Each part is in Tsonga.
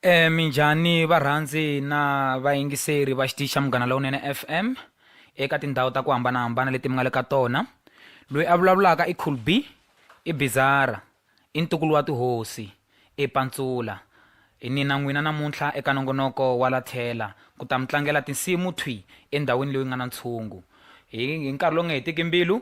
E minjhani varhandzi na vayingiseri va xitichi xa Munghana Lowunene FM eka tindhawu ta ku hambanahambana leti mi nga le ka tona. Loyi a vulavulaka i Cool B, i Bizarra, i ntukulu wa tihosi, i Pantsula. Hi ni na n'wina namuntlha eka nongonoko wa la tlhela ku ta mi tlangela tinsimu thwi endhawini leyi nga na ntshungu. Hi hi nkarhi lowu nga hetiki mbilu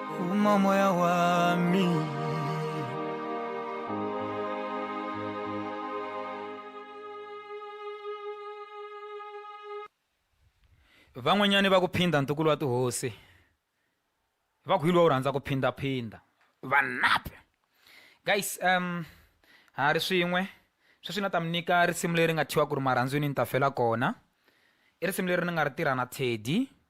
uma moya wami van'wanyani va ku phinda ntukulu wa tihosi va ku hi lowa u rhandza ku phindaphinda vanape guys um ha ri swin'we sweswi na ta mi nyika risimu leri nga thyiwa ku ri marhandzwini ni ta fela kona i risimu leri ni nga ri tirha na teddy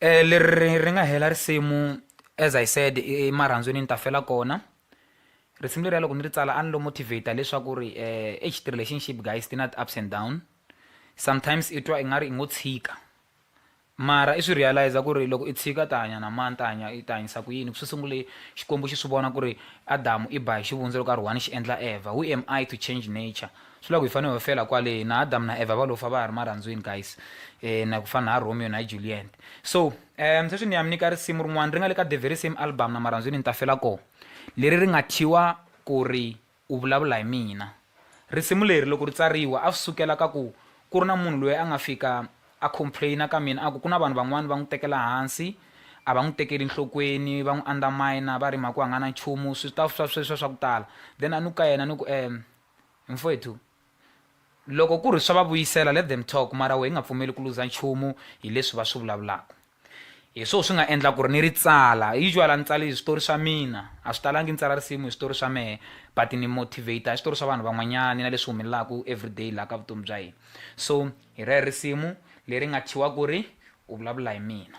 eh leri ri nga hela risimu as i said emarhandzwini ni ta fela kona risimu leriya loko ni ri tsala a ni lo motivate leswaku ri um ex ti-relationship guys ti na ti-ups and down sometimes i twa i nga ri i ngo tshika mara i swi realize ku ri loko i tshika ta hanya na mani ta hanya i ta hanyisa ku yini ku swi sungule xikwembu xi swi vona ku ri adamu i ba hi xivundza loko a ri one xi endla evha who am i to change nature Swi vula ku hi fane ho fela kwale na Adam na Eva va lo fa va ha ri marhandzwini guys eh na ku fana na Romeo na Juliet so um sweswi ni ya mi nyika risimu rin'wana ri nga le ka the very same album na marhandzwini ni ta fela ko leri ri nga thyiwa ku ri u vulavula hi mina risimu leri loko ri tsariwa a swi sukela ka ku ku ri na munhu loyi a nga fika a complainer ka mina a ku ku na vanhu van'wana va n'wi tekela hansi a va n'wi tekeli nhlokweni va n'wi underminer va ri mhaka ku a nga na nchumu swi ta swa sweswo swa ku tala then a ni ku ka yena ni ku um Mfwethu, loko ku ri swa va vuyisela let them talk mara wehe hi nga pfumeli ku luza nchumu hi leswi va swi vulavulaka. Hi swoho swi nga endla ku ri ni ri tsala. Usual a ni tsali switori swa mina, a swi talangi ni tsala risimu hi switori swa mehe but ni motivate-a hi switori swa vanhu van'wanyani na leswi humelelaku everyday laha ka vutomi bya hina. So hi rero risimu leri nga thyiwa ku ri U Vulavula Hi Mina.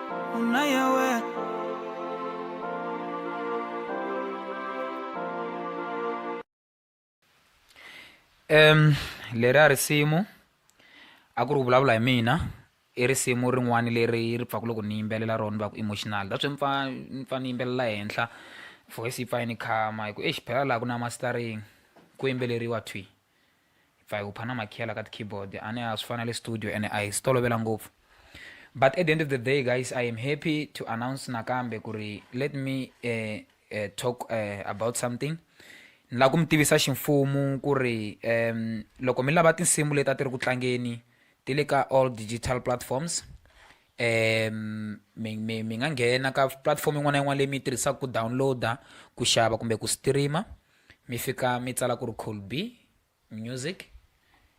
um leri a risimu a ku ri ku vulavula hi mina i risimu rin'wana leri ri pfaka loko ni yimbelela rona va ku emotional that's why mpfa mpfa ni yimbelela henhla voice yi pfa yi ni khama hi ku exi phela laha ku na mastering ku yimbeleriwa thwi hi pfa hi hupha na makhiyala ka ti-keyboard a ni a swi fana le studio ene a hi swi tolovela ngopfu but at the end of the day guys i am happy to announce nakambe ku ri let me uh, uh, talk uh, about something ni lava ku mi tivisa ximfumu ku ri um loko mi lava tinsimu leti a ti ri ku tlangeni ti le ka all digital platforms um mi mi mi nga nghena ka platform yin'wana na yin'wana leyi mi yi tirhisaka ku downloada ku xava kumbe ku streama mi fika mi tsala ku ri cool be music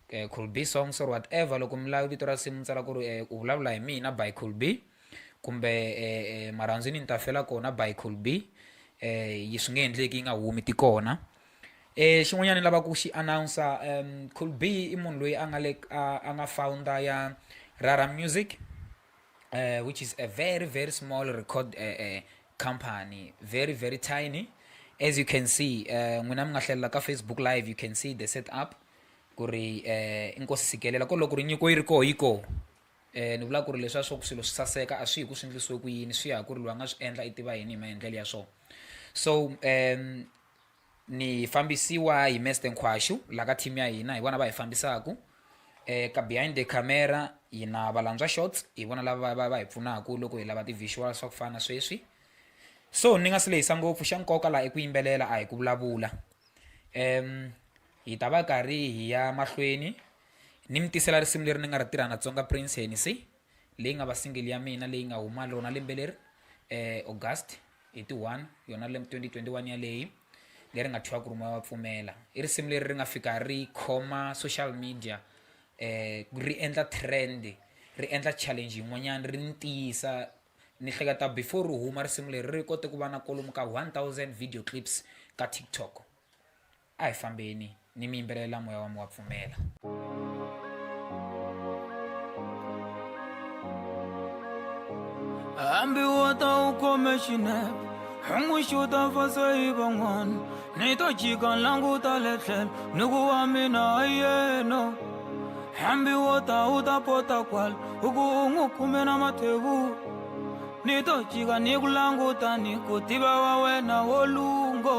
eh, cool be songs or whatever loko mi lava vito ra simu mi tsala ku ri eh, u vulavula hi mina by cool be kumbe eh, eh, marhandzu ni ni ta fela kona by cool be eh, yi swi nge endleki yi nga humi ti kona eh xin'wanyana ni lava ku xi announcer um cool b i munhu loyi a nga le a nga founder ya rara music uh, which is a very very small record uh, uh, company very very tiny as you can see uh, n'wina mi nga hlalela ka facebook live you can see the set up ku ri uh, inkosi sikelela ko loko ri nyiko yi ri koho yi koho um ni vula ku ri leswiya swa ku swilo swi saseka a swi hi ku swi endlisiwe ku yini swi ya ku ri loyi a nga swi endla i tiva yini hi maendlelo ya swona so um ni fambisiwa hi meste nkhwaxu la ka team ya hina hi vona va hi fambisaku eh, ka behind the camera hi na valantswa shots hi vona lava va, va hi pfunaku loko hi lava ti-visual swa ku fana na sweswi so ni nga si lehisa ngopfu xa nkoka laha i ku yimbelela a hi ku vulavula um hi ta va karhi hi ya mahlweni ni mi tisela risimu leri ni nga ri tirha na tsonga prince henisi leyi nga va single ya mina leyi nga huma rona lembe leri August hi ti one yona lembe twenty twenty one yaleyi leri nga thyiwa ku ri moya wa pfumela i risimu leri ri nga fika ri khoma social media ri endla trend ri endla challenge yin'wanyana ri ni tiyisa ni hleketa before ri huma risimu leri ri kote ku va na kolomu ka one thousand video clips ka TikTok. A hi fambeni, ni mi yimbelelela moya wa mi wa pfumela. Hambi wo ta u khome xinepe hunguxuta mfaso hi van'wana ni to jika languta le tlhelo ni ku wa mina a yena hambi wo ta u ta pota kwala u ku u n'wi khume na mathevu ni to jika ni ku languta ni ku tiva wa wena wo lungo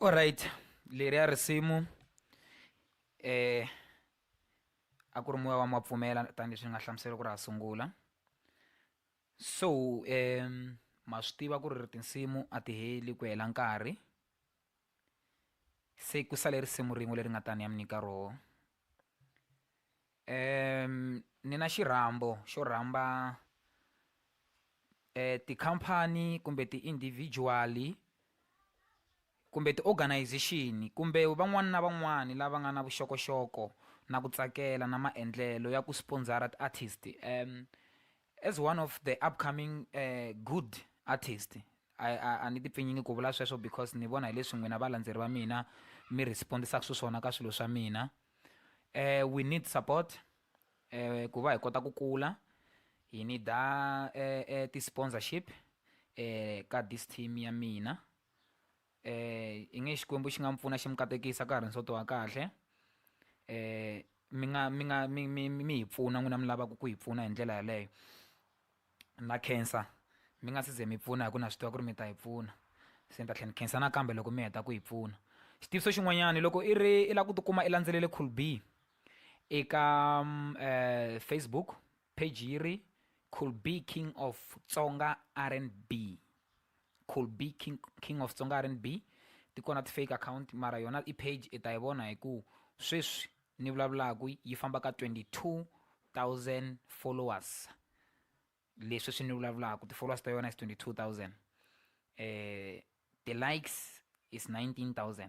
Alright, leriya risimu eh a ku ri moya wa mapfumela tanihileswi ni nga hlamusela ku ri ha sungula so um ma swi tiva ku ri tinsimu a ti heli ku hela nkarhi se ku sale risimu rin'we leri nga ta ni ya mi nyika roho. ni na xirhambo xo rhamba tikhampani kumbe ti-individual-i kumbe ti-organization-i kumbe van'wana na van'wana lava nga na vuxokoxoko na ku tsakela na maendlelo ya ku sponsor-a ti-artist As one of the upcoming good artist a a a ni tipfinyingi ku vula sweswo because ni vona hi leswi n'wina valandzeri va mina mi respond-isaka xiswona ka swilo swa mina um we need support um ku va hi kota ku kula hi need-a um ti-sponsorship um ka this team ya mina. eh i nge xikwembu xi nga mi pfuna xi mi katekisa ka ha ri nsoto wa kahle eh mi nga mi nga mi mi mi hi pfuna n'wina mi lavaka ku hi pfuna hi ndlela yeleyo na khensa mi nga si ze mi pfuna hi ku na swi tiva ku ri mi ta hi pfuna se ni ta tlhela ni khensa nakambe loko mi heta ku hi pfuna xitiviso xin'wanyana loko i ri i lava ku tikuma i landzelele cool b eka um facebook Page yiri Could be King of Tsonga RNB. Could be King, King of Tsonga RNB. Ti kona ti-fake account mara yona i page i ta yi vona hi ku sweswi ni vulavulaka yi famba ka 22000 followers leswi swi ni vulavulaka ti-followers ta yona is 22000 um ti-likes is 19000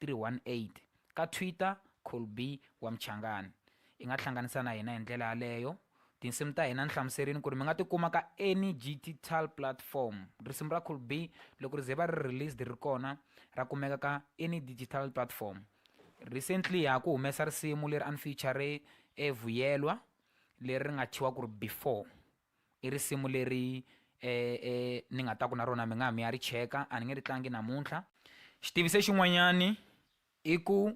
318. Ka Twitter, Colby wa Mchangani. I nga hlanganisa na hina hi ndlela yaleyo. Tinsimu ta hina ni hlamuserini kuri mi nga ti kuma ka any gtital platform. Risimu ra Colby loko ri ze va ri released ri kona ra kumeka ka any digital platform. Recently ha ku humesa risimu leri a ni feature e Vuyelwa leri ri nga thyiwa kuri Before. I risimu leri ni nga ta ku na rona mi nga ha mi ya ri cheka a ni nge ri tlangi namuntlha xitiviso xin'wanyani i ku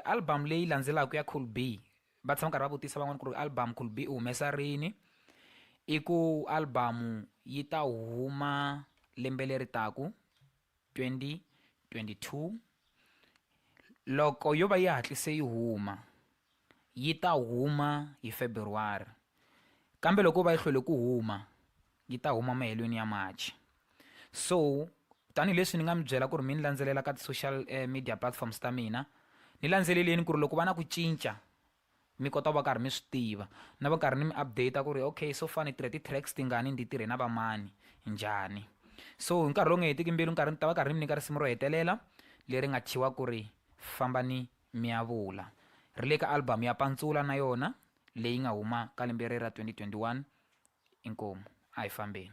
album leyi landzelaka ya cool b va tshama karhi va vutisa van'wana ku ri album cool b u humesa rini i ku album yi ta huma lembe leri taku 2022 loko yo va yi hatlise yi huma, yi ta huma hi February, kambe loko yo va yi hlwele ku huma, yi ta huma mahelweni ya March. So tanihi leswi ni nga mi byela ku ri mi ni landzelela ka ti-social media platforms ta mina, ni landzeleleni ku ri loko va na ku cinca mi kota ku va karhi mi swi tiva na va karhi ni mi update ku ri okay so far ni tirhe ti-tracks tingani ni ti tirhe na vamani njhani so hi nkarhi lowu nga hetiki mbilu nkarhi ni ta va karhi ni mi nyika risimu ro hetelela leri nga thyiwa ku ri famba ni mi ya vula ri le ka album ya pantsula na yona leyi nga huma ka lembe ri ra 2021 inkomu a hi fambeni